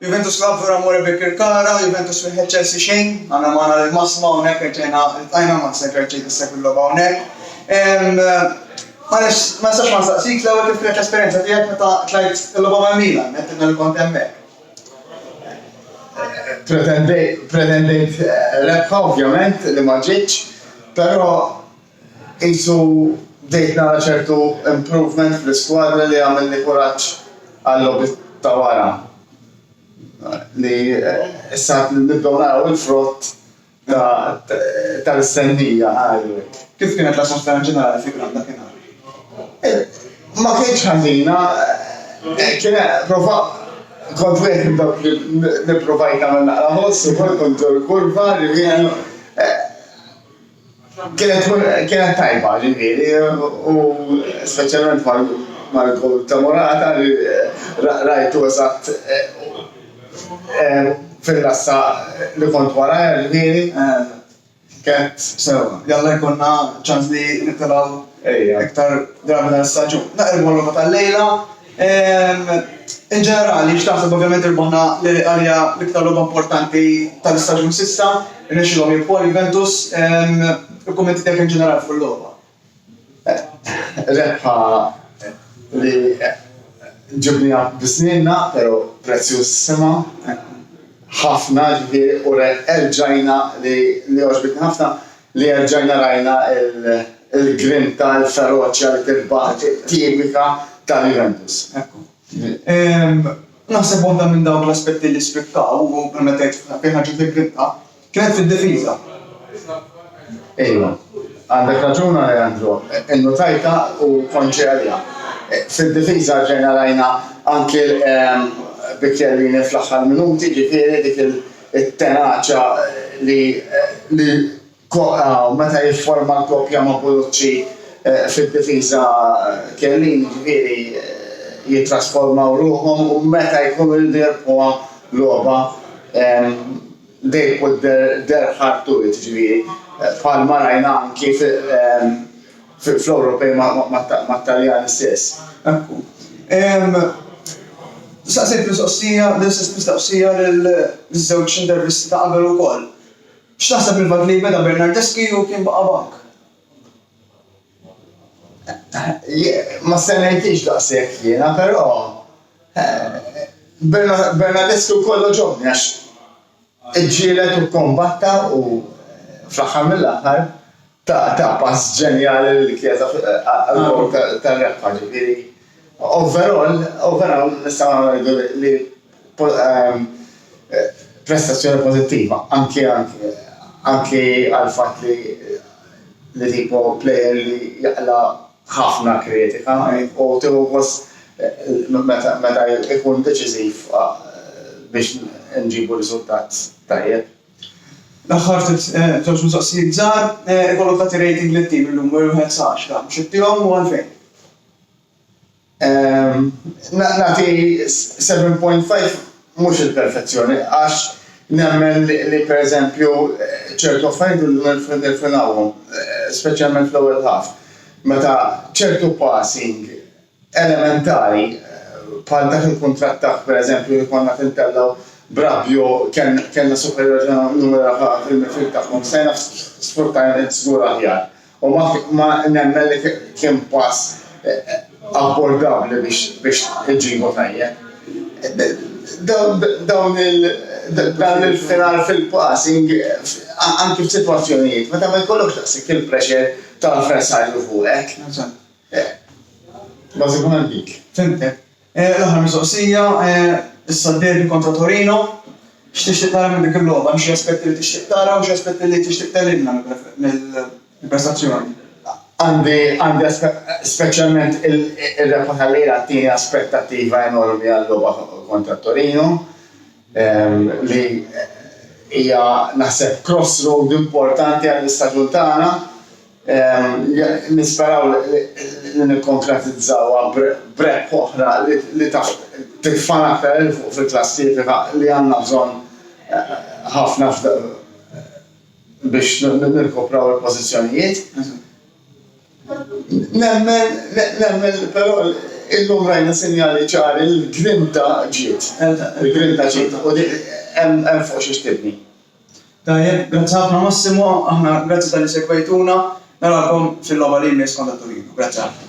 Juventus Club Vur Amore Birkirkara, Juventus Wieħed Chelsea Xejn, għandna magħna lil Massimo hawnhekk erġajna ltqajna ma nistax nerġa' jkissek il-logħba hawnhekk. Ma nistax ma nsaqsik l-ewwel kif kienet l-esperjenza tiegħek meta tlajt il-logħba ma' Milan, għedtilna li kont hemmhekk. Pretendejt rebħa ovvjament li ma ġietx, però Qisu bdejt nara ċertu improvement fl-iskwadra li għamilli kuraġġ għal-logħbiet ta' wara li issa qed nibdew naraw il-frott ta' l-istennija. Kif kienet l-atmosfera ġenerali fil-grawnd dakinhar? Ma kinitx ħażina, kont wieħed minn dawk li ppruvajt nagħmel naqra ħoss ukoll kontu l-kurva, ġifieri. Kienet tajba ġifieri u speċjalment mal-gowl ta' Morata li rajtu eżatt fil-lassa li kont warajha ġifieri kienet sewwa. Jalla jkollna ċans li nittilgħu iktar drabi dan is-staġun. Dak il-vologo tal-lejla. In ġenerali, x'taħseb ovvjament irbaħna għalija l-iktar logħba importanti tal-istaġun s'issa, irnexxielhom jirbħuha Juventus. Il-kummenti tiegħek in ġenerali fuq il-logħba? Rebħa li ġibniha b'sninna, però prezzjużissima, ħafna ġifieri u erġajna li għoġbitni ħafna. li erġajna rajna l-grinta, il-feroċja li tinbagħat tipika ta' l-Juventus. Naħseb waħda minn dawk l-aspetti li spikkaw, u meta jgħid spikkaw kien ħarġet il-grinta, kienet fid-difiża. Ejwa, għandek raġun Alejandro, innutajtha u konxji għaliha. Fid-difiża erġajna rajna anki Bicchierini fl-aħħar minuti, jiġifieri dik it-tenaċja li u meta jifforma l-koppja ma' Bonucci fid-difiża Chiellini jiġifieri jittrasformaw ruħhom u meta jkunu jridu jirbħuha logħba they put their heart to it jiġifieri bħalma rajna anki fl-Ewropej mat-Taljani stess. Ekku. Staqsejt mistoqsija, l-istess mistaqsija liż-żewġ intervisti ta' qabel ukoll. X'taħseb mill-fatt li beda Bernardeschi u kien baqa' bank? Ma stennejthiex daqshekk jiena, però Bernardeschi wkoll għoġobni għax iġġieled u kkombatta u fl-aħħar mill-aħħar, Ta ta pass ġenjali lil Chiesa għal gowl ta rebħa ġifieri overall overall nistgħu ngħidu li prestazzjoni pożittiva anki anki għal fatt li li tipo plejer li jaqla ħafna kritika u tieħu gost meta jkun deċiżiv biex inġibu riżultat tajjeb. L-aħħar żewġ mistoqsijiet żgħar ikollok tagħti rating lit-tim illum minn wieħed sa għaxra. X'għidtihom u għalfejn? Nagħti seven point five mhux il-perfezzjoni għax nemmen li pereżempju ċertu affarijiet irridu nirfinawhom, speċjalment fl-ewwel ħaf meta ċertu passing elementari bħal dak il-kuntratt ta' pereżempju li konna qed intellgħu b'rabju kellna superjuri li numru ieħor fil-midfield tagħhom stajna sfruttament żgur aħjar u ma nemmen li kien pass abbordabbli biex iġibu tajjeb. Dawn il dan l-irfinar fil-passing anki f'sitwazzjonijiet meta ma jkollokx daqshekk il-pressure tal-avversarju fuqek. Eh, bażikament dik. Fimtek. Eh, l-aħħar mistoqsija, eh, issa d-derby kontra Torino, x'tixtieq tara minn dik il-logħba? Hemm xi aspetti li tixtieq tara u xi aspetti li tixtieq tellilna mill-prestazzjoni? Għandi għandi speċjalment ir-rebħa tal-lejla tini aspettattiva enormi għal-logħba kontra Torino ehm, li hija naħseb crossroad importanti għall-istaġun tagħna Nisperaw li nikkonkretizzawha b'rebħ oħra li tirfana aktar 'il fuq fil-klassifika li għandna bżonn ħafna biex nirkupraw il-pożizzjonijiet. Nemmen però illum rajna sinjali ċari li l-grinta ġiet. Il-grinta ġiet u hemm fuq xiex tibni. Tajjeb, grazzi ħafna Massimo, aħna grazzi talli segwejtuna, narakom fil-logħba li jmiss kontra Torino. Grazzi ħafna.